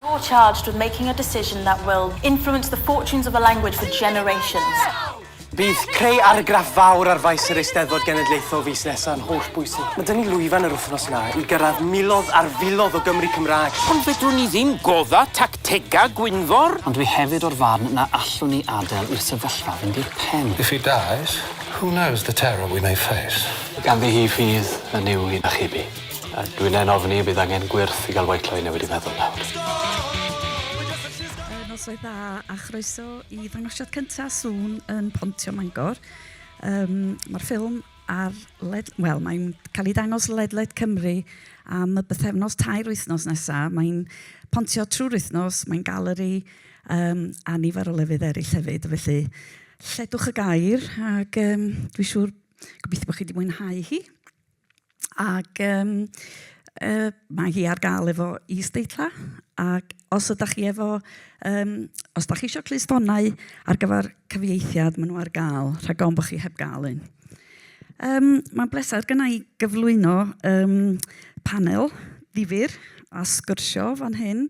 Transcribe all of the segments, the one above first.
You're charged with making a decision that will influence the fortunes of the language for generations. Bydd creu argraff fawr ar faes yr Eisteddfod Genedlaethol fis nesa yn holl bwysig. Mae 'da ni lwyfan yr wythnos yma i gyrraedd miloedd ar filoedd o Gymry Cymraeg. Ond fedrwn ni ddim gwodda tactega Gwynfor. Ond dwi hefyd o'r farn na allwn ni adel i'r sefyllfa fynd i'r pen. If he dies, who knows the terror we may face. Ganddi hi ffydd yn Nuw i achub hi. A dwi ne'n ofni bydd angen gwyrth i ga'l white line newid i feddwl nawr. Yy noswaith dda a chroeso i ddangosiad cynta Sŵn yn Pontio Mangor. Yym ma'r ffilm ar led- wel mae'n cael ei dangos ledled Cymru am y bythefnos tair wythnos nesa'. Mae'n pontio trwy'r wythnos, mae'n galeri yym a nifer o lefydd eryll hefyd felly lledwch y gair ac yym dwi siŵr gobeithio bo' chi 'di mwynhau hi. ac yym yy mae hi ar gael efo is-deitlau, ac os ydach chi efo yym... os dach chi isio clustifonau ar gyfer cyfieithiad, maen nhw ar gael rhag ofn bod chi heb gael un. Yym mae'n bleser gynna' i gyflwyno yym panel ddifyr a sgwrsio fan hyn,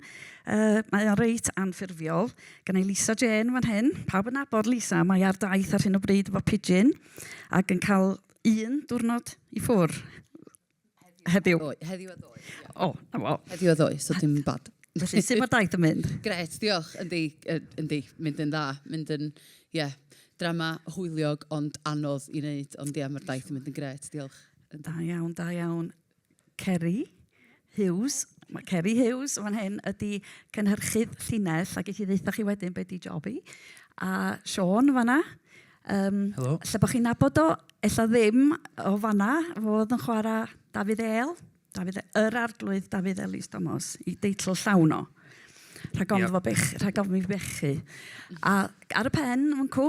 yy mae o reit anffurfiol, gynna' i Lisa Jane fan hyn, pawb yn nabod Lisa, mae ar daith ar hyn o bryd efo pidgin ac yn cael... un diwrnod i ffwr heddiw. Heddiw a ddoe. O, na fo. Heddiw a ddoe, so dim bad. Felly, sut mae daith yn mynd? Gret, diolch. Yndi, yndi, mynd yn dda. Mynd yn, ie, yeah, drama hwyliog ond anodd i wneud. Ond ie, yeah, mae'r daith yn mynd yn gret, diolch. Da iawn, da iawn. Ceri Hughes, mae Ceri Hughes fan hyn, ydy cynhyrchydd llinell, a gei ddeitha chi wedyn be di job hi. A Siôn fan yna. Um, Helo. Lle bod chi'n nabod o, ella ddim o fan yna, fodd yn chwarae Dafydd El, Dafydd, e, yr arglwydd Dafydd Elis Thomas, i deitl llawn o. Rhag ofn yep. fo bech, rhag ofn i bechu. A ar y pen, mwncw,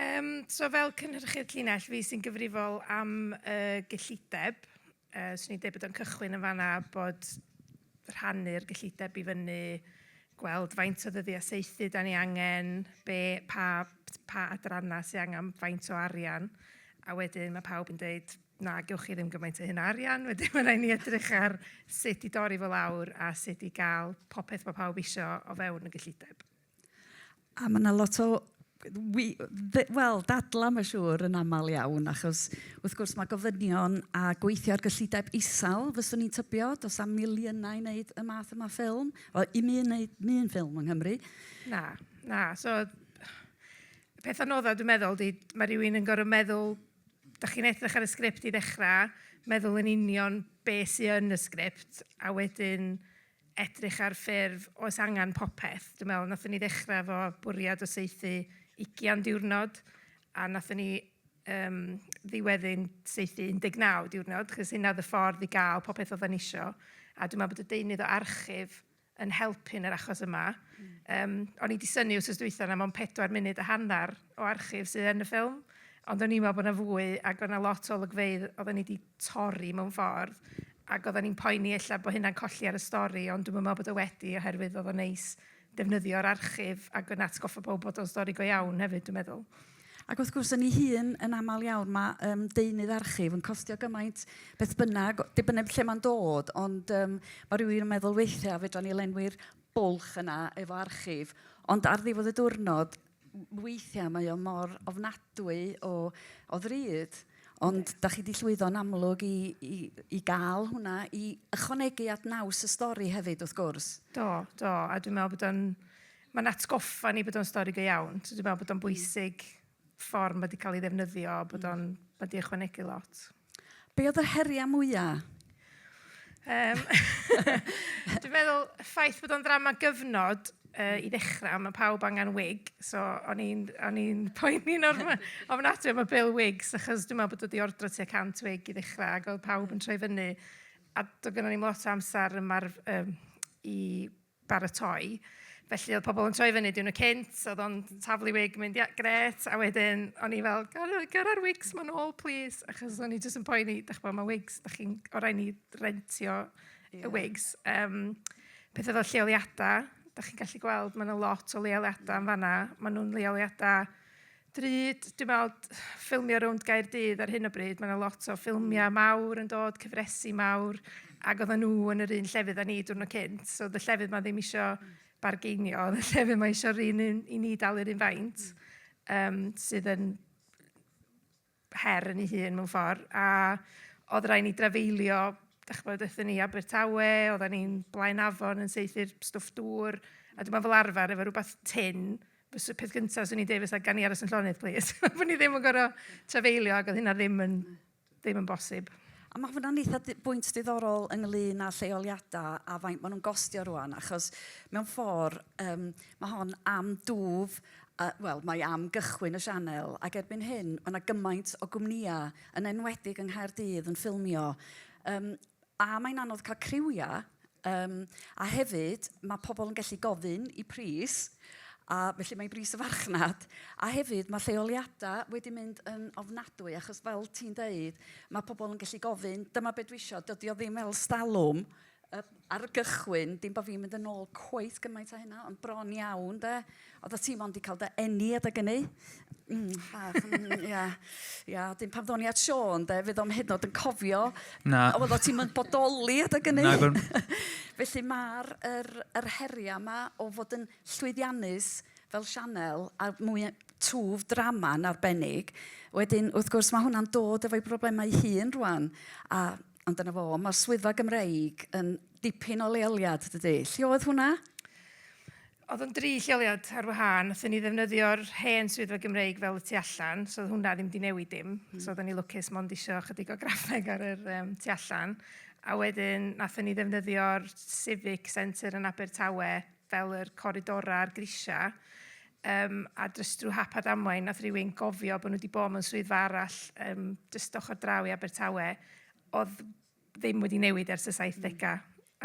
Yym, so fel cynhyrchydd llinell, fi sy'n gyfrifol am y gyllideb. Yy, 'swn i'n deud bod o'n cychwyn yn fan'na bod rhannu'r gyllideb i fyny, gweld faint o ddyddiau saethu 'dan ni angen, be- pa t- pa adrannau sy angen faint o arian, a wedyn ma' pawb yn deud, 'na, gewch chi ddim gymaint o hyn o arian, wedyn ma' raid ni edrych ar sut i dorri fo lawr a sut i gael popeth ma' pawb isio o fewn y gyllideb. A ma' 'na lot o wi- ddy- wel, dadlau mae'n siŵr yn aml iawn, achos wrth gwrs mae gofynion a gweithio ar gyllideb isel, fyswn i'n tybio, does 'na'm miliynau i wneud y math yma o ffilm, wel i mi wneud un ffilm yng Nghymru. Na, na, so y peth anodda dwi'n meddwl ydy, ma' rywun yn gorfod meddwl, dach chi'n edrych ar y sgript i ddechrau, meddwl yn union be sy yn y sgript, a wedyn edrych ar ffurf oes angen popeth. Dwi'n meddwl wnaethon ni ddechrau efo bwriad o saethu ugian diwrnod a wnaethon ni yym ddiweddu'n saethu 19 diwrnod achos hynna oedd y ffordd i gael popeth oedden ni isio a dwi'n meddwl bod y deunydd o archif yn helpu yn yr achos yma. Yym o'n i 'di synnu wythnos dwytha na mond pedwar munud a hanner o archif sydd yn y ffilm, ond o'n i'n meddwl bod 'na fwy, ac oedd 'na lot o olygfeydd oedden ni 'di torri mewn ffordd, ac oedden ni'n poeni ella bod hynna'n colli ar y stori, ond dwi'm yn meddwl bod o wedi, oherwydd oedd o'n neis defnyddio'r archif, ac yn atgoffa pawb bod o'n stori go iawn hefyd, dwi'n meddwl. Ac wrth gwrs, yn ei hun, yn aml iawn, mae um, deunydd archif yn costio gymaint beth bynnag, dibyneb lle mae'n dod, ond um, mae rhywun yn meddwl weithiau, fedra ni lenwi'r bwlch yna efo archif, ond ar ddiwedd y diwrnod, weithiau mae o mor ofnadwy o, o ddrud, ond da chi wedi llwyddo'n amlwg i, i, i gael hwnna, i ychwanegu at naws y stori hefyd, wrth gwrs. Do, do, a dwi'n meddwl bod o'n, mae'n atgoffa ni bod o'n stori go iawn. Dwi'n meddwl bod o'n mm. bwysig ffordd mae wedi cael ei ddefnyddio, bod mm. o'n, mae wedi ychwanegu lot. Be oedd yr heriau mwyaf? Um, dwi'n meddwl, ffaith bod o'n ddrama gyfnod uh, i ddechrau, mae pawb angen wig, so o'n i'n poeni'n ofnadwy am y bil wigs, achos dwi'n meddwl bod wedi ordro tua 100 wig i ddechrau, ac oedd pawb yn troi fyny, a doedd gen i lot o amser yma'r, um, i baratoi. Felly oedd pobl yn troi fyny diwrnod cynt, oedd o'n taflu wig, mynd "ie, grêt", a wedyn o'n i fel "ger a ger â'r wigs 'ma nôl plîs", achos o'n i jyst yn poeni, dach chibod, mae wigs, dach chi'n... o' raid ni rentio y wigs. Yym petha fel lleoliadau, dach chi'n gallu gweld, mae 'na lot o leoliadau yn fan'na, maen nhw'n leoliadau... Drud, dwi'n meddwl, ffilmio rownd Gaerdydd ar hyn o bryd, mae 'na lot o ffilmiau mawr yn dod, cyfresi mawr, ac oedden nhw yn yr un llefydd â ni diwrnod cynt, so oedd y llefydd 'ma ddim isio bargeinio, oedd y llefydd 'ma isio yr un un i ni dalu'r un faint, yym sydd yn her yn ei hun mewn ffordd, a oedd rhaid ni drafeilio, dach chibod, aethon ni i Abertawe, oedden ni'n Blaen Afon yn saethu'r stwff dŵr, a dwi'n meddwl fel arfer efo rywbeth tynn, fysa peth gynta 'swn i'n deud fysa gawn ni aros yn llonydd plîs, bod ni ddim yn gorfod trafeilio ac oedd hynna ddim yn ddim yn bosib. A mae hwnna'n eitha di- bwynt diddorol ynglyn â lleoliadau a faint maen nhw'n gostio rwan, achos mewn ffordd um, mae hon am dwf A, wel, mae am gychwyn y sianel, ac erbyn hyn, mae 'na gymaint o gwmnïau, yn enwedig yng Nghaerdydd, yn ffilmio. Yym, a, mae'n anodd cael criwiau, yym, a hefyd, mae pobl yn gallu gofyn i pris, a felly mae bris y farchnad, a hefyd, mae lleoliadau wedi mynd yn ofnadwy, achos fel ti'n deud, mae pobl yn gallu gofyn, dyma be dwi isio, dydi o ddim fel 'stalwm. yy ar y gychwyn, dim bod fi'n mynd yn ôl cweit gymaint â hynna, ond bron iawn 'de, oeddet ti mond 'di cael dy eni adeg ynny. Mm, bach yn, ia. Ia, wedyn pan ddo'n i at Siôn 'de, fe ddo'm hyd yn o'd yn cofio... Na. ...oeddet ti'm yn bodoli adeg ynny. Nag o'n. Felly ma'r yr yr heria' 'ma o fod yn llwyddiannus fel sianel a mwy yy twf drama'n arbennig, wedyn wrth gwrs ma' hwnna'n dod efo'i broblemau 'i hun rŵan a Ond dyna fo, mae'r swyddfa Gymreig yn dipyn o leoliad, dydy. Lle oedd hwnna? Oedd o'n dri lleoliad ar wahân. Nathon ni ddefnyddio'r hen swyddfa Gymreig fel y tu allan, so oedd hwnna ddim di newid dim. Mm. So oedd ni lwcus mond isio chydig o graffeg ar yr um, tu allan. A wedyn nathon ni ddefnyddio'r Civic Centre yn Abertawe fel yr coridora a'r grisia, yym a jyst drw hap a damwain nath rywun gofio bo' nw 'di bo' mewn swyddfa arall yym jyst ochor draw i Abertawe odd ddim wedi newid ers y saithdega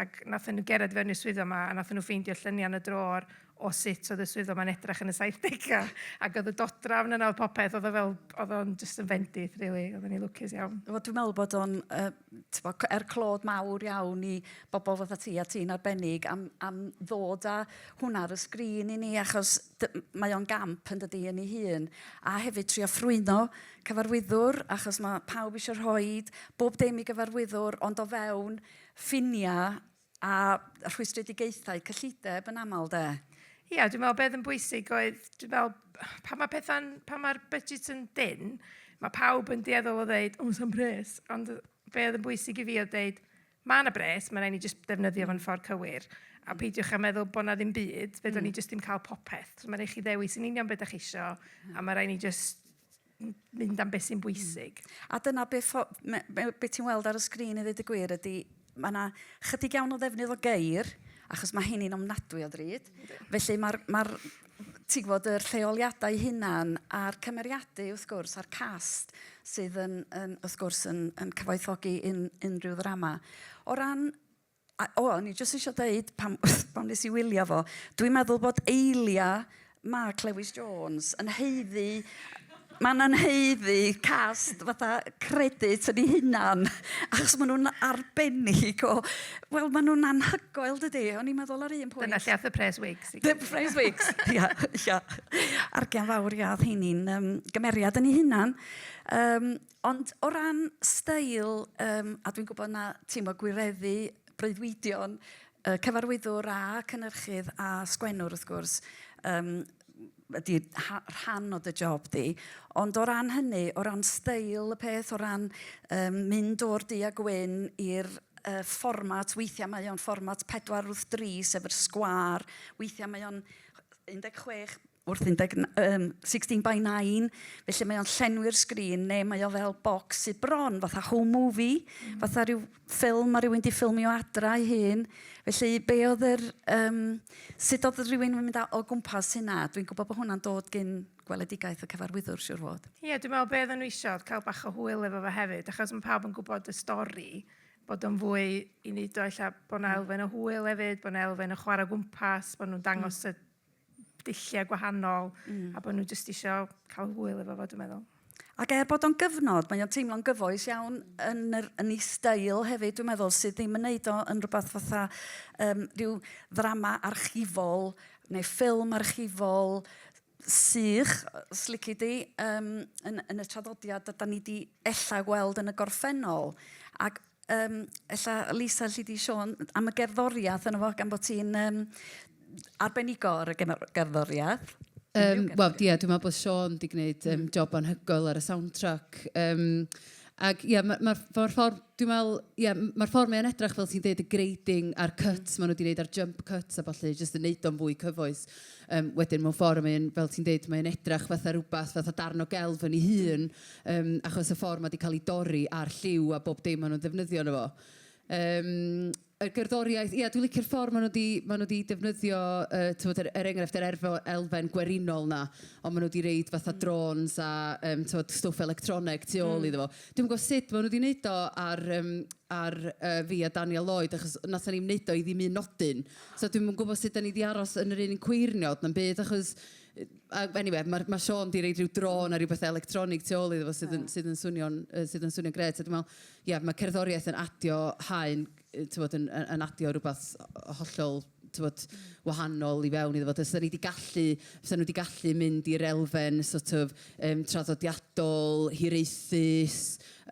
ac nathon nw gerdded fewn i'r swyddfa 'ma a nathon nw ffeindio llynia'n y drôr o sut odd y swyddfa 'ma'n edrach yn y saithdega ac odd y dodrafn yna o'dd popeth odd o fel odd o'n jyst yn fendith rili oddan ni lwcus iawn. Wel dwi me'wl bod o'n yy t'bo' c- er clod mawr iawn i bobol fatha ti a ti'n arbennig am am ddod â hwnna ar y sgrin i ni achos dy- m- mae o'n gamp yndydi yn ei hun a hefyd trio ffrwyno cyfarwyddwr achos ma' pawb isio rhoid bob dim i gyfarwyddwr ond o fewn ffinia' A rhwystredigaethau cyllideb yn aml de. Ia, dwi'n meddwl beth yn bwysig oedd, dwi'n meddwl, pan mae pethau'n, pan mae'r budget yn dyn, mae pawb yn dueddol o ddeud, o, sa'n bres. Ond be oedd yn bwysig i fi oedd deud, mae yna bres, mae'n rhaid ni jyst defnyddio fo'n ffordd cywir. A mm. peidiwch â meddwl bod yna ddim byd, fe mm. ni jyst ddim cael popeth. So mae'n rhaid chi ddewis yn union beth ydych chi eisiau, a mae'n rhaid ni jyst mynd am beth sy'n bwysig. Mm. A dyna beth be ti'n weld ar y sgrin i ddweud y gwir ydy, mae yna chydig iawn o ddefnydd o geir, achos mae hyn i'n ofnadwy o ddrud. Felly mae'r ma ti'n gwybod, yr lleoliadau hunan a'r cymeriadu, wrth gwrs, a'r cast sydd yn, yn wrth gwrs, yn, yn cyfoethogi un, unrhyw ddrama. O ran A, o, o'n i jyst isio deud, pam, pam nes i wylio fo, dwi'n meddwl bod Eilia Mark Lewis Jones yn haeddu... mae'n yn haeddu cast fatha credit yn ei hunan, achos maen nhw'n arbennig o... Wel, maen nhw'n anhygoel, dydy. O'n i'n meddwl ar un pwynt... Dyna lle aeth y pres wigs. Y pres wigs, ia, ia. Argian fawr, ia, oedd heini'n um, gymeriad yn ei hunan. Um, Ond o ran steil, yym, a dwi'n gwybod na ti'n mo gwireddu breuddwydion y cyfarwyddwr a cynnyrchydd a sgwennwr wrth gwrs, yym, ydy ha- rhan o dy job di. Ond o ran hynny, o ran steil y peth, o ran yym mynd o'r du a gwyn i'r yy fformat, weithiau mae o'n fformat pedwar wrth dri sef yr sgwâr, weithiau mae o'n 16 wrth 16 by 9, felly mae o'n llenwi'r sgrin, neu mae o fel bocs sy bron, fatha home movie, mm. fatha rhyw ffilm mae rhywun di ffilmio adra ei hun. Felly, be oedd yr... Um, sut oedd rhywun yn mynd o gwmpas hynna? Dwi'n gwybod bod hwnna'n dod gyn gweledigaeth y cyfarwyddwr, siwr fod. Ie, yeah, dwi'n meddwl beth yn nhw cael bach o hwyl efo fe hefyd, achos mae pawb yn gwybod y stori, bod o'n fwy i wneud o eich bod yna mm. elfen o hwyl hefyd, bod yna elfen o chwarae gwmpas, bod nhw'n dangos mm. y dulliau gwahanol mm. a bod nhw jyst eisiau cael hwyl efo fo, dwi'n meddwl. Ac er bod o'n gyfnod, mae o'n teimlo'n gyfoes iawn yn, yr, yn ei stael hefyd, dwi'n meddwl, sydd ddim yn neud o yn rhywbeth fatha um, rhyw ddrama archifol neu ffilm archifol sych, slici di, um, yn, yn y traddodiad da ni di ella gweld yn y gorffennol. Ac Yym, ella Lisa alli di Siôn am y gerddoriath yno fo, gan bod ti'n yym arbenigo ar y geno- gerddoriath. Yym, wel, ie, dwi'n meddwl bod Siôn di gwneud yym job anhygoel ar y soundtrack. Yym, ac ie, ma' ma'r ma'r ffordd, dwi'n meddwl, ie, m- ma'r ffordd mae o'n edrych, fel ti'n deud, y grading a'r cuts maen nhw di wneud a'r jump cuts a ballu, jyst yn wneud o'n fwy cyfoes. Yym, wedyn, mewn ffordd, mae o'n, fel ti'n deud, mae o'n edrych fatha rywbeth, fatha darn o gelf yn ei hun. Yym, achos y ffordd mae 'di cael ei dorri a'r lliw a bob dim maen nhw'n ddefnyddio yno fo. Yym, y gerddoriaeth, ia, dwi'n licio'r ffordd maen nhw 'di, maen nhw 'di defnyddio, yy, timod, yr, er enghraifft, yr erfo- elfen gwerinol 'na, ond maen nhw 'di roid fatha drones a, yym, timod, stwff electroneg tu ôl iddo fo. Dwi'm yn gwybod sut maen nhw 'di wneud o ar, yym, ar, yy, fi a Daniel Lloyd, achos wnaethon ni'm wneud o i ddim un nodyn. So dwi'm yn gwybod sut dan ni 'di aros yn yr un cweirniod na'm byd, achos, A eniwe, mae ma Siôn 'di reid rhyw drôn a rhyw bethe electronig tu ôl iddo fo sydd yn sydd yn swnio'n yy sydd yn swnio'n grêt a dwi'n meddwl, ie, mae cerddoriaeth yn adio haen, tibod, yn yn yn adio rywbeth yy hollol, tibod, wahanol i fewn iddo fo. Fysa ni 'di gallu, fysa nhw 'di gallu mynd i'r elfen sort of yym traddodiadol, hiraethus,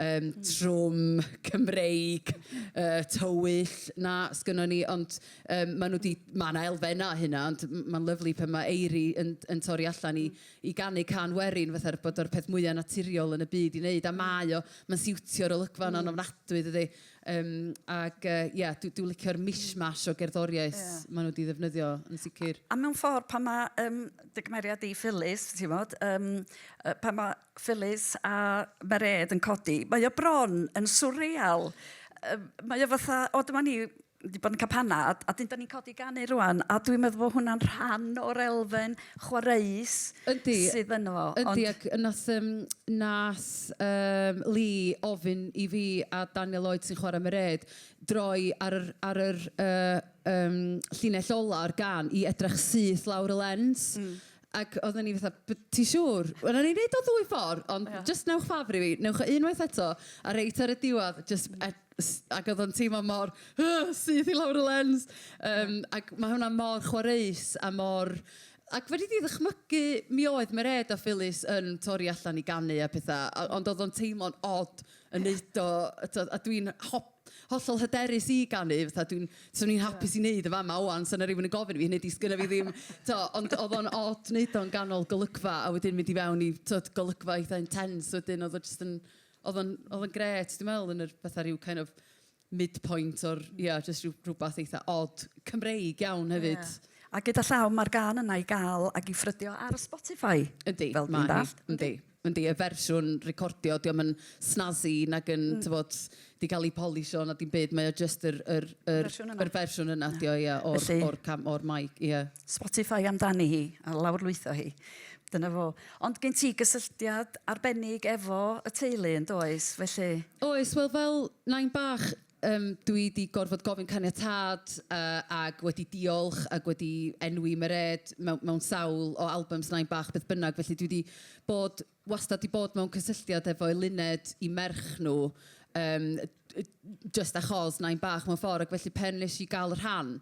yym trwm, Cymreig, yy tywyll 'na sgynnon ni ond, Yym maen nhw 'di... ma' 'na elfennau o hynna ond m- mae'n lyfli pan mae Eiri yn yn torri allan i i ganu cân werin fatha bod o'r peth mwya' naturiol yn y byd i wneud a mae o, mae'n siwtio'r olygfa yna'n ofnadwy dydi? Yym ac yy ie dwi dwi'n licio'r mishmash o gerddoriaeth... ie... maen nhw 'di ddefnyddio yn sicr. A mewn ffordd pan mae yym dy gymeriad di Phyllis timod yym yy pan mae Phyllis a Mairéad yn codi mae o bron yn swreal yy mae o fatha o dyma ni wedi bod yn campana a, a dyn da ni'n codi ganu rwan a dwi'n meddwl bod hwnna'n rhan o'r elfen chwaraeus yndi, sydd yno fo. Yndi, ond... ac nath, um, nath um, Lee ofyn i fi a Daniel Lloyd sy'n chwarae Mered droi ar yr, ar yr uh, um, llinell ola o'r gan i edrych syth lawr y lens. Mm. Ac oedden ni fatha, b- ti siŵr? Wel, o'n i'n neud o ddwy ffordd, ond jyst wnewch ffafr i fi, wnewch o unwaith eto, a reit ar y diwedd, jyst e- s- ac oedd o'n teimlo mor, ugh, syth i lawr y lens! Yym, ac ma' hwnna mor chwareus a mor... Ac fedri di ddychmygu, mi oedd Mairead a Phyllis yn torri allan i ganu a petha, a- ond oedd o'n teimlo'n od yn neud o, a tibod, a dwi'n ho-... hollol hyderus i ganu, fatha dwi'n, 'swn i'n hapus i wneud yn fama ŵan, 'sa 'na rywun yn gofyn i fi, hynny ydi, 'sgynna fi ddim, tibod, ond oedd o'n od wneud o'n ganol golygfa a wedyn mynd i fewn i, tibod, golygfa eitha' intense wedyn, oedd o jyst yn, oedd o'n, oedd o'n grêt, dwi'n meddwl, yn yr, fatha rhyw kind of midpoint o'r, ia, jyst rhyw rywbeth eitha' od, Cymreig iawn hefyd. Ie. A gyda llaw, mae'r gân yna i gael ac i ffrydio ar Spotify... Yndi, mae hi, yndi. ...fel dwi'n dallt. Yndi. Yndi, y fersiwn recordio, dio'm yn snazzy nag yn t'mod 'di ga'l 'i polisho na dim byd, mae o jyst yr yr yr... Y fersiwn yna. ...yr fersiwn yna ydi o ia o'r... Felly... ...o'r cam- o'r mic, ia. Spotify amdani hi, a lawrlwytho hi. Dyna fo. Ond gen ti gysylltiad arbennig efo y teulu yndoes, felly? Oes, wel fel nain bach, Yym, dwi 'di gorfod gofyn caniatâd yy ac wedi diolch ac wedi enwi Mairead mewn mewn sawl o albums Nain Bach beth bynnag felly dwi 'di bod wastad 'di bod mewn cysylltiad efo Eluned i merch nhw yym jyst achos Nain Bach mewn ffordd ac felly pan wnes i gael y rhan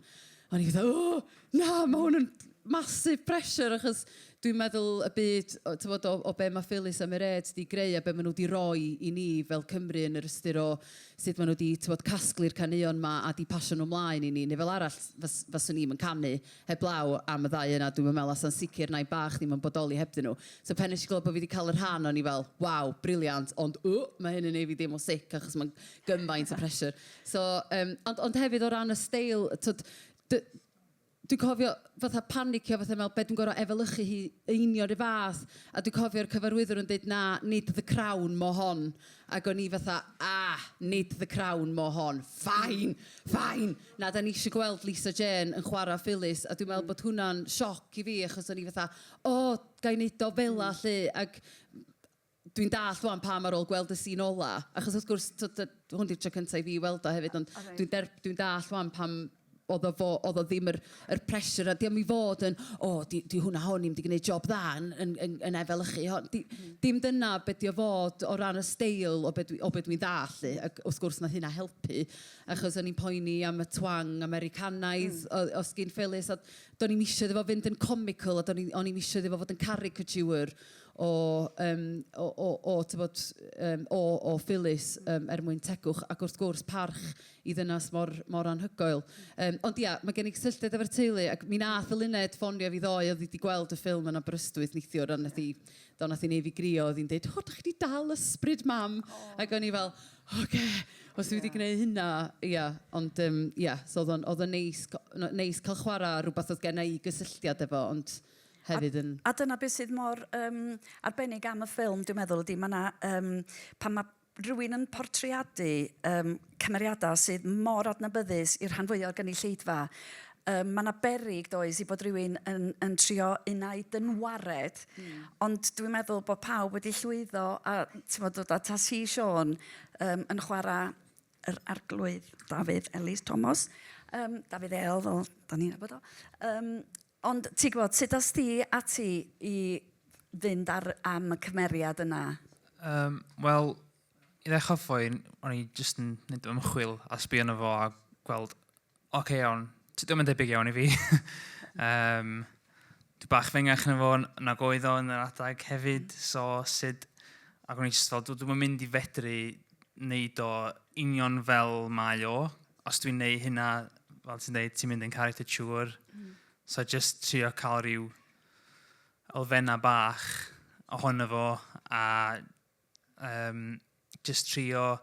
o'n i fatha 'O!' Na, mae hwn yn massive pressure achos dwi'n meddwl y byd, o, tywod, o, o be mae Phyllis a Mairead wedi greu a be maen nhw wedi rhoi i ni fel Cymru yn yr ystyr o sut maen nhw wedi, tywod, casglu'r caneuon yma a wedi pasio nhw ymlaen i ni, neu fel arall fas, faswn i'm yn canu heblaw am y ddau yna, dwi'm yn meddwl, a sa'n sicr na'i bach ddim yn bodoli hebddyn nhw. So pen nes i glywed bod fi wedi cael y rhan o'n i fel, waw, briliant, ond w, mae hyn yn ei fi deimlo sick achos mae'n gymaint o pressure. So, um, ond, ond hefyd o ran y steil, tywod, D- dwi'n cofio fatha panicio fatha me'wl be' dwi'n gor'o' efelychu hi yn union 'run fath a dwi cofio'r cyfarwyddwr yn deud na nid the crown mo hon ag o'n i fatha ah nid the crown mo hon fine fine na 'dan ni isio gweld Lisa Jane yn chwara Phyllis a dwi'n me'wl bod hwnna'n sioc i fi achos o'n i fatha o ga i neud o fela 'lly ag Dwi'n dallt ŵan pam ar ôl gweld y sîn ola, achos wrth gwrs, tibod, yy, hwn 'di'r tro cynta' i fi weld o hefyd, ond dwi'n der- dwi'n dallt ŵan pam oedd o fo- oedd o ddim yr yr pressure, a 'di o'm i fod yn, o, 'di 'di hwnna hon ddim 'di gneud job dda yn yn yn yn efelychu hon. Di- dim dyna be 'di o fod o ran y steil o be dwi o be dwi'n ddallt 'lly, ac wrth gwrs wnaeth hynna helpu, achos o'n i'n poeni am y twang Americanaidd o- o sgin Phyllis, a do'n i'm isio iddo fo fynd yn comical, a do'n i o'n i'm isio iddo fo fod yn caricature o yym o o o tibod yym o o Phyllis yym er mwyn tegwch ac wrth gwrs parch i ddynas mor mor anhygoel. Yym ond ia, mae gen i gysylltiad efo'r teulu ac mi wnaeth Eluned ffonio fi ddoe, oedd hi 'di gweld y ffilm yn Aberystwyth neithiwr a wnaeth hi... do, wnaeth hi wneud fi grio, oedd hi'n deud "o dach chi 'di dal ysbryd mam" ac o'n i fel "ocê, os dwi 'di gwneud hynna, ia". Ond yym ia, so oedd o'n oedd o'n neis g- neis cael chwarae ar rywbeth oedd genna i gysylltiad efo ond... hefyd yn... A, a dyna beth sydd mor um, arbennig am y ffilm, dwi'n meddwl, ydy, mae yna, um, pan mae rhywun yn portreadu um, cymeriadau sydd mor adnabyddus i'r rhan fwyaf o'r gynulleidfa, um, mae yna berig does i bod rhywun yn, yn trio unau dynwared, mm. ond dwi'n meddwl bod pawb wedi llwyddo a ti'n bod dod at as hi Sean um, yn chwarae yr arglwydd Dafydd Elis Thomas, um, Dafydd El, fel da ni'n abod o, um, Ond ti'n gwybod, sut ddoes ti ati i fynd ar, am y cymeriad yna? Um, Wel, i ddechrau ffwyn, o'n i jyst yn mynd ymchwil a sbio yna fo a gweld, oce okay, iawn, ti ddim yn debyg iawn i fi. um, dwi bach fengach na fo, na goedd o yn yr adeg hefyd, mm. so sut, ac o'n i jyst fel, dwi'n mynd i fedru wneud o union fel mae o, Os dwi'n neud hynna, fel ti'n dweud, ti'n mynd yn caricature. Mm. So just trio cael rhyw elfenna bach ohono fo a um, just trio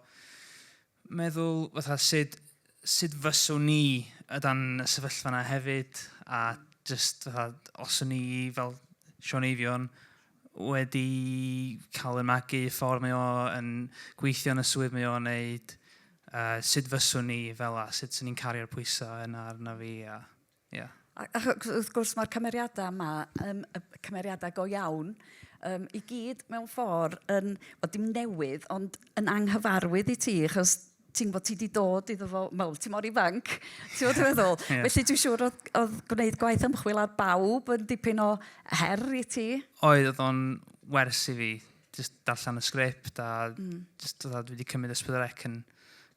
meddwl fatha sut, sut fyswn ni y dan y sefyllfa yna hefyd a just fatha os o'n ni fel Sean Eifion wedi cael yn magu, y ffordd mae o yn gweithio yn y swydd mae o'n neud, a sut fyswn ni fel a sut sy'n ni'n cario'r pwysau yn arna fi. A, yeah. a, a wrth gwrs mae'r cymeriadau yma, um, y cymeriadau go iawn, um, i gyd mewn ffordd yn, o dim newydd, ond yn anghyfarwydd i ti, achos ti'n gwybod, ti wedi dod iddo fo, wel, ti mor ifanc, ti'n gwybod dwi'n meddwl. yeah. Felly dwi'n siŵr oedd, oedd gwneud gwaith ymchwil ar bawb yn dipyn o her i ti. Oedd, oedd o'n wers i fi, just darllen y sgript a mm. just oedd dwi wedi cymryd ysbrydolec yn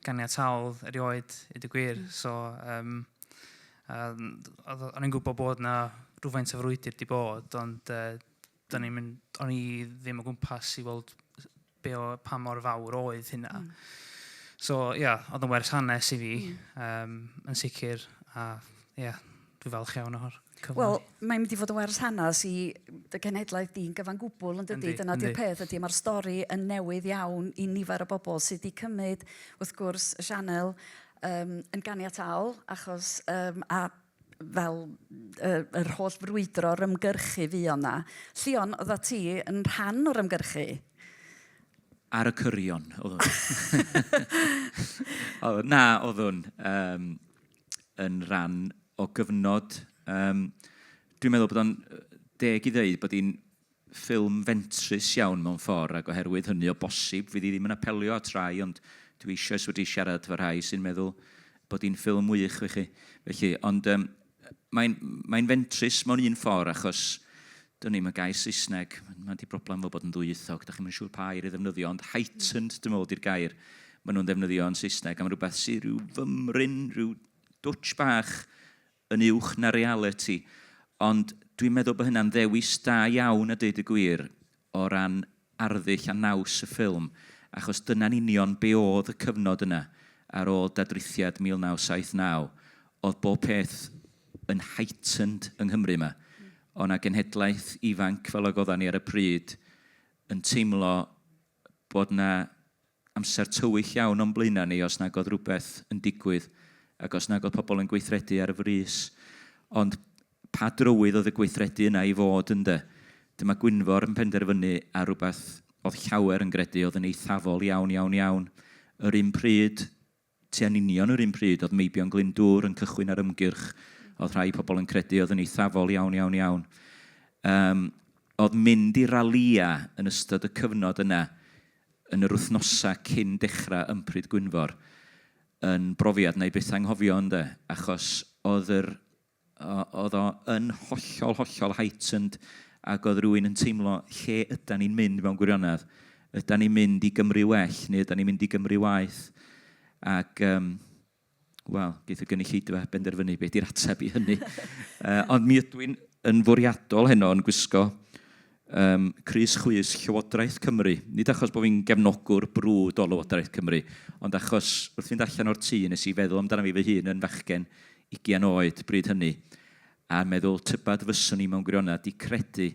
ganiataol erioed i dy gwir. Mm. So, um, um, o'n i'n gwybod bod na rhywfaint o frwydr di bod, ond uh, 'da ni'n mynd... o'n i ddim o gwmpas i weld be o... pa mor fawr oedd hynna. So, ia, oedd o'n werth hanes i fi, um, yn sicr, a ia, dwi'n falch iawn o'r cyfle. Wel, mae'n mynd i fod yn werth hanes i dy genhedlaeth di'n gyfan gwbl, yn dydy? Dyna di'r peth, ydy, mae'r stori yn newydd iawn i nifer o bobl sydd wedi cymryd, wrth gwrs, y sianel um, yn ganiataol, achos um, a fel yy yr holl frwydro o'r ymgyrchu fuodd 'na. Llion, oeddat ti yn rhan o'r ymgyrchu? Ar y cyrion, oeddwn. Oeddwn, na, oeddwn um, yn rhan o gyfnod. Um, dwi'n meddwl bod o'n deg i ddeud bod hi'n ffilm fentrus iawn mewn ffordd ac oherwydd hynny o bosib fydd hi ddim yn apelio at rai ond dwi eisioes wedi siarad efo rhai sy'n meddwl bod hi'n ffilm wych i chi felly ond yym mae'n mae'n fentrus mewn un ffordd achos dwn i'm y gair Saesneg mae 'di broblem efo bod yn ddwyieithog dach chi'm yn siŵr pa air i ddefnyddio ond heightened dwi'n meddwl 'di'r gair maen nhw'n ddefnyddio yn Saesneg am rywbeth sy' rhyw fymryn rhyw dwtsh bach yn uwch na realiti, ond dwi'n meddwl bod hynna'n ddewis da iawn a deud y gwir, o ran arddull a naws y ffilm, achos dyna'n union be oedd y cyfnod yna, ar ôl dadrithiad 1979, oedd bob peth yn heightened yng Nghymru 'ma, o' 'na genhedlaeth ifanc fel ag odda ni ar y pryd yn teimlo bod 'na Amser tywyll iawn o'n blaenau ni os nag oedd rhywbeth yn digwydd ac os nag oedd pobl yn gweithredu ar frys. Ond pa drywydd oedd y gweithredu yna i fod ynde? Dyma Gwynfor yn penderfynu ar rhywbeth oedd llawer yn gredu oedd yn eithafol iawn, iawn, iawn. Yr un pryd, Ti yn union yr un pryd oedd meibion Glyndŵr yn cychwyn ar ymgyrch oedd rhai pobl yn credu oedd yn eithafol iawn, iawn, iawn. Yym, oedd mynd i ralïa yn ystod y cyfnod yna, yn yr wythnosa cyn dechrau ympryd Gwynfor, yn brofiad wna i byth anghofio ynde, achos oedd yr oedd o yn hollol, hollol heightened ac oedd rhywun yn teimlo lle ydan ni'n mynd mewn gwirionedd. Ydan ni'n mynd i Gymru well neu ydan ni'n mynd i Gymru waeth? Ac um, wel, geith y gynulleidfa benderfynu beth di'r ateb i hynny. uh, ond mi ydw i'n yn fwriadol heno yn gwisgo Ym crys chwys Llywodraeth Cymru, nid achos bod fi'n gefnogwr brwd o Lywodraeth Cymru, ond achos wrth fynd allan o'r tŷ nes i feddwl amdana fi fy hun yn fachgen ugian oed bryd hynny, a meddwl tybed fyswn i mewn gwirionedd 'di credu,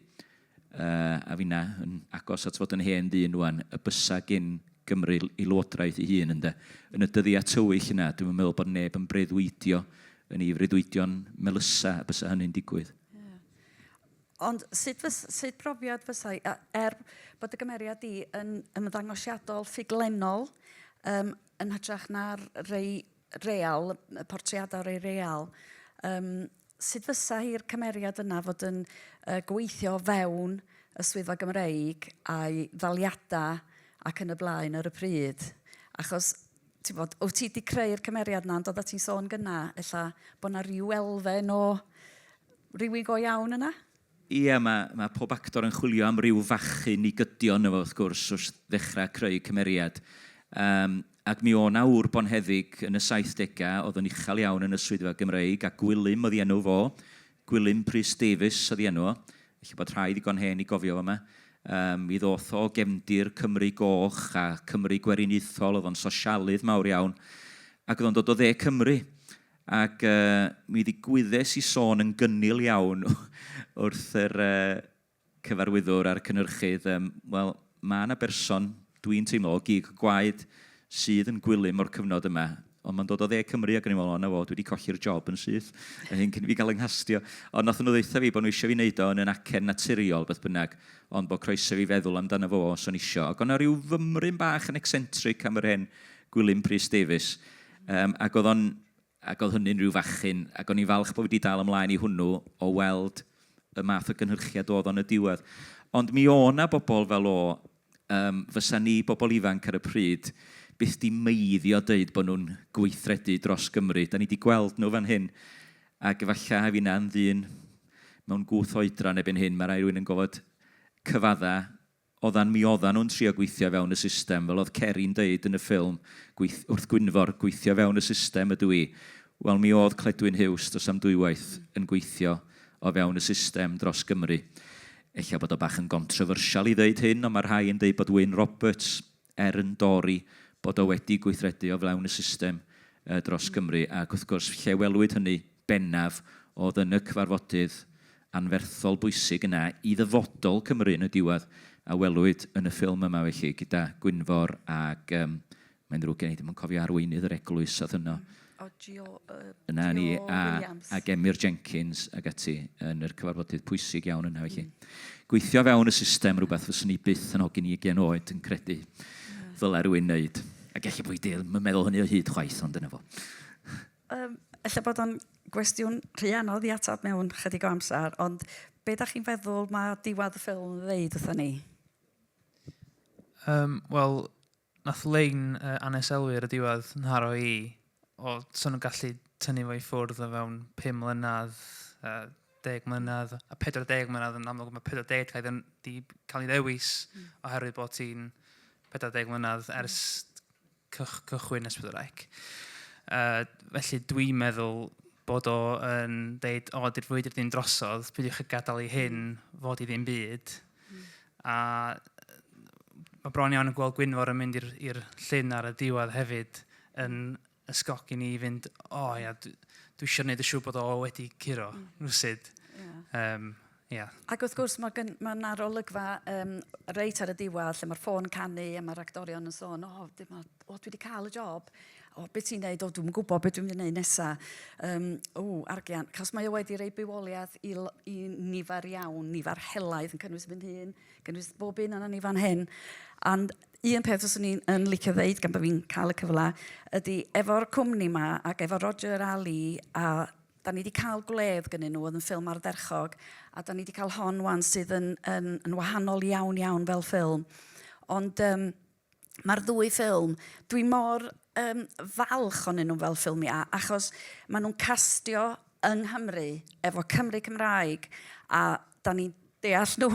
a finna yn agos at fod yn hen ddyn ŵan, y bysa gin Gymru ei Lywodraeth ei hun, ynde? Yn y dyddiau tywyll yna, dwi'm yn meddwl bod neb yn breuddwydio yn ei freuddwydion melysa y bysa hynny'n digwydd. Ond sut fys- sut brofiad fysai, a- er bod y gymeriad di yn ymddangosiadol ffuglenol, yym, yn hytrach na'r rei real, y portreadau rei real, yym, sut fysa hi'r cymeriad yna fod yn uh, gweithio fewn y swyddfa Gymreig a'i ddaliadau ac yn y blaen ar y pryd? Achos ti'n bod, wyt ti wedi creu'r cymeriad yna, ond oeddet ti'n sôn gyna, ella bod yna rhyw elfen o rywun go iawn yna? Ie, mae, mae pob actor yn chwilio am ryw fachyn i gydio yno fo, wrth gwrs, wrth ddechrau creu cymeriad. Um, ac mi o na wr bonheddig yn y 70au, oedd yn uchel iawn yn y swyddfa Gymreig, a Gwilym oedd i enw fo, Gwilym Prys Davies oedd ei enw o. Ella bod rhai ddigon hen i gofio fo 'ma. Yym mi ddoth o gefndir Cymru Goch a Cymru Gweriniaethol, oedd o'n sosialydd mawr iawn, ac oedd o'n dod o dde Cymru. Ac yy mi ddigwyddes i sôn yn gynnil iawn wrth yr yy cyfarwyddwr a'r cynhyrchydd, yym, wel, ma' 'na berson, dwi'n teimlo, o gig gwaed sydd yn gwilym o'r cyfnod yma, ond ma'n dod o Dde Cymru ac o'n i'n meddwl, o 'na fo, dwi 'di colli'r job yn syth, yn hyn cyn i fi gael 'y nghastio. Ond nathon nhw ddeutha fi bo' nhw isio fi neud o yn yn acen naturiol, beth bynnag, ond bo' croeso i fi feddwl amdano fo os o'n isio. Ac o' 'na ryw fymryn bach yn eccentric am yr hen Gwilym Prys Davies, yym, ac o'dd o'n ac oedd hynny'n rhyw fachyn, ac o'n i'n falch bod fi 'di dal ymlaen i hwnnw, o weld y math o gynhyrchiad oedd o yn y diwedd. Ond mi o' 'na bobl fel o, yym, fysa ni, bobl ifanc ar y pryd, byth 'di meiddio deud bod nhw'n gweithredu dros Gymru. Da ni 'di gweld nhw fan hyn, ac efallai a finna'n ddyn mewn gwth oedran erbyn hyn, ma' raid rhywun yn gorfod cyfaddau Oeddan, mi oeddan nhw'n trio gweithio i fewn y system, fel oedd Ceri'n deud yn y ffilm, gweith- wrth Gwynfor, gweithio i fewn y system ydw i. Wel, mi oedd Cledwyn Huws dros am dwywaith yn gweithio o fewn y system dros Gymru. Ella bod o bach yn gontryfyrsial i ddeud hyn, ond mae rhai yn deud bod Wyn Roberts er yn Dori, bod o wedi gweithredu o flaen y system dros Gymru, ac wrth gwrs, lle welwyd hynny bennaf oedd yn y cyfarfodydd anferthol bwysig yna i ddyfodol Cymru yn y diwedd, a welwyd yn y ffilm yma felly, gyda Gwynfor ac yym mae'n ddrwg gen i ddim yn cofio arweinydd yr eglwys oedd yno. Yna ni, a, a Gemyr Jenkins ac ati yn yr cyfarfodydd pwysig iawn yna felly. Mm. Gweithio fewn y system rhywbeth fyswn i byth yn hogyn i ugen oed yn credu yeah. ddylai rwy'n wneud. Ac efallai bod i ddim yn meddwl hynny o hyd chwaith, ond dyna fo. Um, efallai bod o'n gwestiwn rhy anodd i atab mewn chydig o amser, ond be da chi'n feddwl mae diwad y ffilm yn ddeud wrthyn ni? Um, Wel, Nath Lein yy aneselwi ar y diwedd nharo i o 'sa nhw'n gallu tynnu fo i ffwrdd o fewn pum mlynedd, yy deg mlynedd, a pedwar deg mlynedd yn amlwg ma' pedwar deg 'di cael ei dden- 'di cael ei ddewis oherwydd bod hi'n pedwar deg mlynedd ers cych- cychwyn Ysbryd yr Ec. Yy felly dwi'n meddwl bod o yn deud o di'r frwydr ddim drosodd peidiwch â gadael i hyn fod i ddim byd A mae bron iawn yn gweld Gwynfor yn mynd i'r llun ar y diwedd hefyd yn ysgogi ni i fynd, o oh, ia, dwi, dwi eisiau gwneud y siw bod o wedi curo, mm. rwysid. Yeah. Um, Yeah. Ac wrth gwrs, mae ma yna rolygfa um, reit ar y diwedd lle mae'r ffôn canu a mae'r actorion yn sôn, o, oh, dwi wedi cael y job. O, be ti'n neud? O, dwi'n gwybod beth dwi'n mynd i neud nesa. Um, o, argian. Cos mae o wedi rei bywoliaeth i, i nifer iawn, nifer helaeth yn cynnwys fy hun, cynnwys bob un yna ni fan hyn. And un peth os o'n i'n licio ddeud gan bod fi'n cael y cyfle, ydy efo'r cwmni yma ac efo Roger a Lee a da ni wedi cael gwledd gynnyn nhw, oedd yn ffilm ardderchog, a da ni wedi cael hon wan sydd yn, yn, yn wahanol iawn iawn fel ffilm. Ond um, Mae'r ddwy ffilm, dwi mor um, falch onyn nhw fel ffilmiau, achos maen nhw'n castio yng Nghymru, efo Cymru Cymraeg, a da ni'n deall nhw.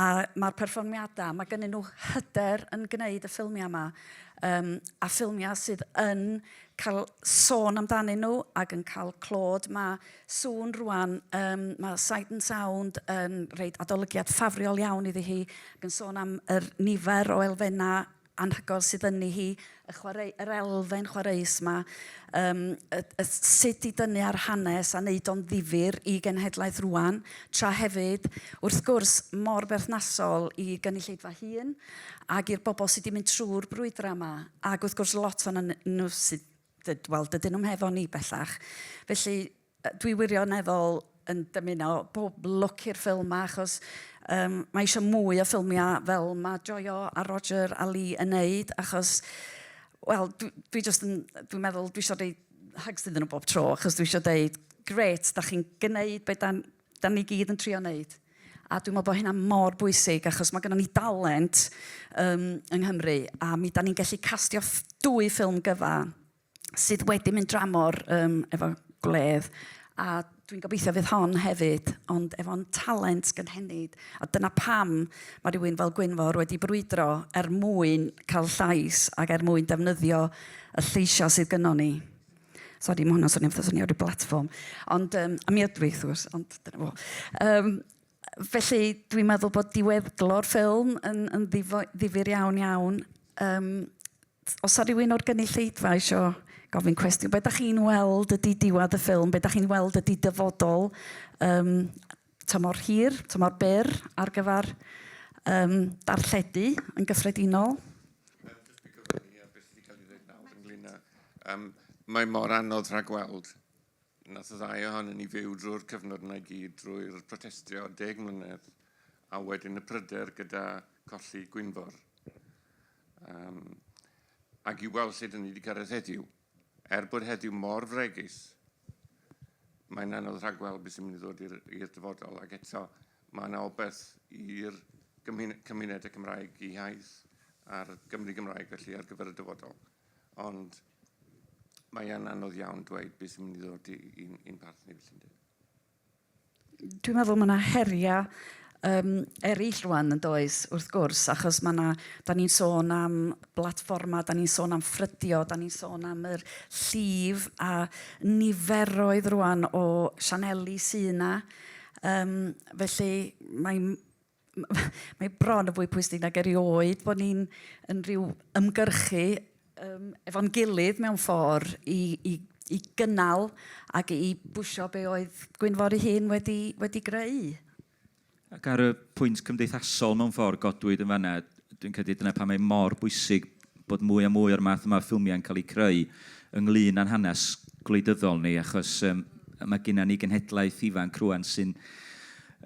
a mae'r perfformiadau, mae gennyn nhw hyder yn gwneud y ffilmiau yma, um, a ffilmiau sydd yn cael sôn amdanyn nhw ac yn cael clod. Mae sŵn rwan, um, mae Sight and Sound yn rhaid adolygiad ffafriol iawn iddi hi, ac yn sôn am yr nifer o elfennau anhygoel sydd yn hi, y chwarae, yr elfen chwaraeus yma, um, y, y, sut i dynnu ar hanes a wneud o'n ddifur i genhedlaeth rwan, tra hefyd, wrth gwrs, mor berthnasol i gynulleidfa hun ac i'r bobl sydd wedi mynd trwy'r brwydrau yma, ac wrth gwrs lot o'n nhw sydd dyd- wel, dydyn nhw'm hefo ni bellach. Felly, yy, dwi wirioneddol yn dymuno pob lwc i'r ffilm 'ma achos um, mae eisiau mwy o ffilmiau fel mae Joio a Roger a Lee yn neud achos, wel, dwi, dwi just yn, dwi'n meddwl dwi eisiau deud hugs iddyn nhw bob tro achos dwi eisiau deud, gret, da chi'n gwneud beth da, Dan ni gyd yn trio wneud. A dwi'n meddwl bod hynna mor bwysig achos mae gennym ni dalent um, yng Nghymru a mi dan ni'n gallu castio dwy ffilm gyfa sydd wedi mynd dramor um, efo gwledd a dwi'n gobeithio fydd hon hefyd, ond efo'n talent gynhenid. A dyna pam mae rhywun fel Gwynfor wedi brwydro er mwyn cael llais ac er mwyn defnyddio y lleisiau sydd gynnwn ni. Sori, mae hwnna'n swnio fatha swnio rhyw blatfform. Ond, um, a mi ydw i, wrth gwrs, ond dyna fo. Um, felly, dwi'n meddwl bod diweddglo'r ffilm yn, yn ddifyr iawn iawn. Um, os ar rhywun o'r gynulleidfa eisiau gofyn cwestiwn, be da chi'n weld ydy diwedd y ffilm, be da chi'n weld ydy dyfodol um, tymor hir, tymor byr ar gyfer um, darlledu yn gyffredinol. Um, mae mor anodd rhagweld nath y ddau ohonyn ni fyw drwy'r cyfnod yna i gyd, drwy'r protestio deg mlynedd, a wedyn y pryder gyda colli Gwynfor. Um, ac i weld lle dyn ni wedi cyrraedd heddiw. Er bod heddiw mor fregus, mae'n anodd rhagweld beth sy'n mynd i ddod i'r dyfodol, ac eto mae yna obaith i'r cymunedau Cymraeg i haith a'r Gymru Gymraeg felly ar gyfer y dyfodol. Ond mae'n anodd iawn dweud beth sy'n mynd i ddod i'n parth ni felly'n dweud. Dwi'n meddwl ma' 'na heria' yym eryll rŵan yn does wrth gwrs achos ma' 'na... 'dan ni'n sôn am blatfforma, 'dan ni'n sôn am ffrydio, 'dan ni'n sôn am yr llif a niferoedd rŵan o sianeli sy' 'na yym felly mae'n mae bron yn fwy pwysig nag erioed bod ni'n yn rhyw ymgyrchu um, efo'n gilydd mewn ffordd i, i, i gynnal ac i bwysio be oedd Gwynfor ei hun wedi, wedi greu. Ac ar y pwynt cymdeithasol mewn ffordd godwyd yn fanna, dwi'n credu dyna pam mae mor bwysig bod mwy a mwy o'r math yma o ffilmiau'n cael eu creu ynglŷn â'n hanes gwleidyddol ni, achos yym mae gennym ni genhedlaeth ifanc rŵan sy'n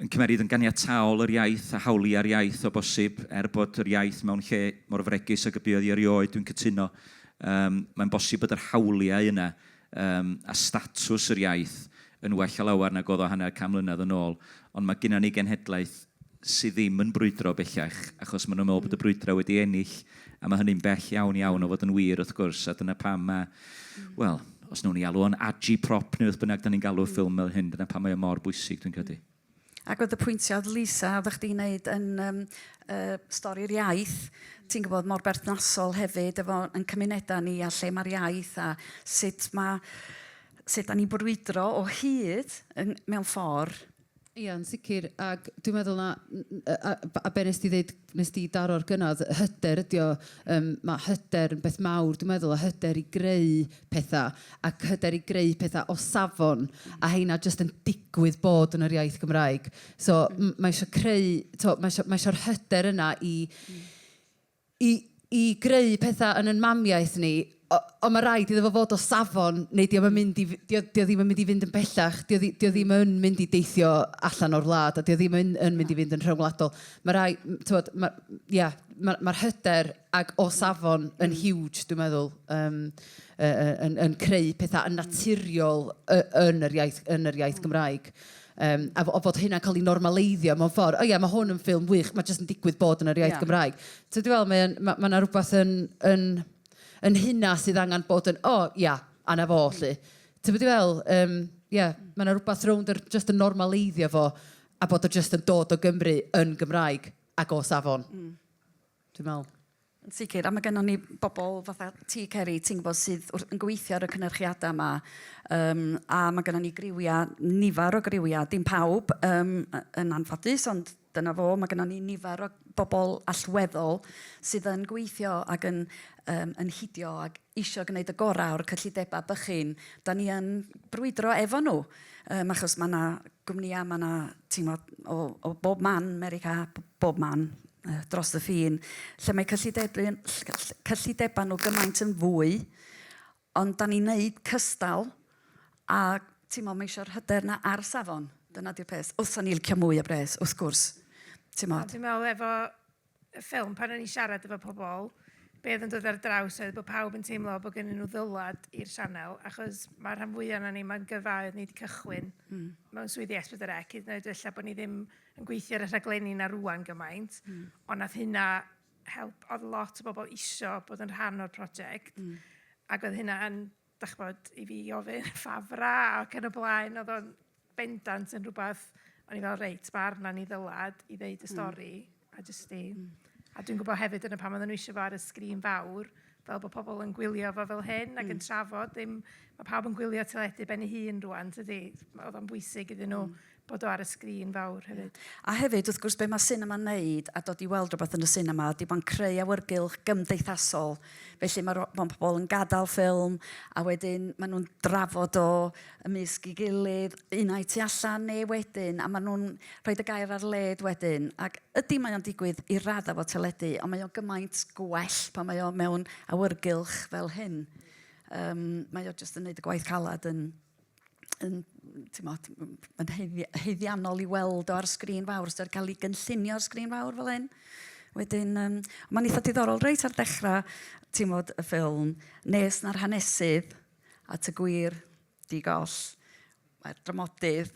yn cymeryd yn ganiataol yr iaith a hawliau'r iaith o bosib, er bod yr iaith mewn lle mor fregus ag y buodd hi erioed, dwi'n cytuno, yym mae'n bosib bod yr hawliau yna Yym, a statws yr iaith yn well a lawer nag oedd o hanner can mlynedd yn ôl. Ond mae gynnon ni genhedlaeth sy ddim yn brwydro bellach, achos maen nhw'n meddwl bod y brwydrau wedi ennill, a mae hynny'n bell iawn, iawn o fod yn wir, wrth gwrs, a dyna pam mae, wel, os wnawn ni alw o'n agiprop neu beth bynnag dan ni'n galw'r ffilm fel hyn, dyna pam mae o mor bwysig, dwi'n credu. Ac oedd y pwyntiau oedd Lisa, oeddech chdi'n neud yn um, uh, stori'r iaith, ti'n gwybod, mor berthnasol hefyd efo yn cymunedau ni a lle mae'r iaith a sut mae sut da ni'n brwydro o hyd yn, mewn ffordd. Ia'n sicr, ac dwi'n meddwl na, a, a, a be nes ti ddeud Wnest ti daro'r gynnau, hyder ydy o, yym ma' hyder yn beth mawr dwi'n meddwl, a hyder i greu petha, ac hyder i greu petha o safon, a heina jyst yn digwydd bod yn yr iaith Gymraeg. So m- mae isio creu, tibod, mae isio, mae isio'r hyder yna i i i greu petha yn yn mamiaith ni, o- ond ma' raid iddo fo fod o safon neu 'di o'm yn mynd i f- 'di o 'di o ddim yn mynd i fynd yn bellach, 'di o ddi- 'di o ddim yn mynd i deithio allan o'r wlad a 'di o ddim yn yn mynd i fynd yn rhyngwladol. Ma' rai- m- t'mod ma', ia, ma' ma'r hyder ag o safon yn huge dwi'n meddwl yym yy yy yn yn creu petha yn naturiol y- yn yr iaith yn yr iaith Gymraeg. Yym, a fo- fod hynna'n cael ei normaleiddio mewn ffordd. O ia, mae hwn yn ffilm wych, mae jyst yn digwydd bod yn yr iaith... ia. ...Gymraeg. Tibod be dwi'n feddwl, mae o'n... ma' ma' 'na rywbeth yn yn yn hynna sydd angen bod yn, 'o ia, a 'na fo 'lly'. Tibod be dwi'n feddwl? Yym, ia, mae 'na rywbeth rownd yr jyst yn normaleiddio fo a bod o jyst yn dod o Gymru yn Gymraeg ac o safon. dwi'n meddwl. Yn sicr, a mae gennym ni bobl fatha ti Ceri, ti'n gwybod, sydd wrth... yn gweithio ar y cynyrchiadau yma, yym, a mae gennym ni griwiau, nifer o griwiau, dim pawb, yym, y- yn anffodus, ond dyna fo, mae gennym ni nifer o bobl allweddol sydd yn gweithio ac yn, yym, yn hidio ac isio gwneud y gorau o'r cyllidebau bychin da ni yn brwydro efo nhw. Um, achos mae yna gwmnïau, mae yna tîmod o, o bob man, America, bob man, uh, dros y ffin, lle mae cyllidebau, cyllidebau nhw gymaint yn fwy, ond da ni'n neud cystal a ti'n mae eisiau'r hyder na ar safon. Dyna di'r peth. Wrth o'n i'n licio mwy o bres, wrth gwrs. Ti'n meddwl? Dwi'n meddwl efo ffilm, pan o'n i'n siarad efo pobl, be oedd yn dod ar draws oedd bod pawb yn teimlo bod gennyn nhw ddylad i'r sianel, achos mae'r rhan fwyaf yna ni, mae'n gyrfa oedd ni wedi cychwyn mm. mewn swyddi S4C, hyd yn oed felly bod ni ddim yn gweithio ar y rhaglenni na rwan gymaint, mm. ond nath hynna help, oedd lot o bobl isio bod yn rhan o'r prosiect, mm. ac oedd hynna yn dach ch'mod, i fi ofyn ffa fra ac yn y blaen, oedd o'n bendant yn rhywbeth, o'n i fel reit, mae arna ni ddylad i ddeud y hmm. stori, mm. a jyst i... Mm. A dwi'n gwybod hefyd yn y pan oedden nhw eisiau fo ar y sgrin fawr, fel bod pobl yn gwylio fo fel hyn ac mm. yn hmm. trafod, ddim, mae pawb yn gwylio teledu ben ei hun rwan, tydi? Oedd o'n bwysig iddyn nhw mm. bod o ar y sgrin fawr hefyd. A hefyd, wrth gwrs, be mae sinema'n neud a dod i weld rhywbeth yn y sinema ydy mae'n creu awyrgylch gymdeithasol. Felly mae ro- mae pobl yn gadael ffilm a wedyn maen nhw'n drafod o ymysg ei gilydd, un ai tu allan neu wedyn, a maen nhw'n rhoi y gair ar led wedyn. Ac ydy mae o'n digwydd i raddau fod teledu, ond mae o gymaint gwell pan mae o mewn awyrgylch fel hyn. Um, mae o jyst yn neud y gwaith calad yn yn timod, yn heiddi- haeddiannol i weld o ar sgrin fawr, os 'di o 'di cael ei gynllunio ar sgrin fawr fel hyn. Wedyn, yym, mae'n eitha diddorol reit ar dechrau timod, y ffilm, nes na'r hanesydd at y gwir di-goll, mae'r dramodydd,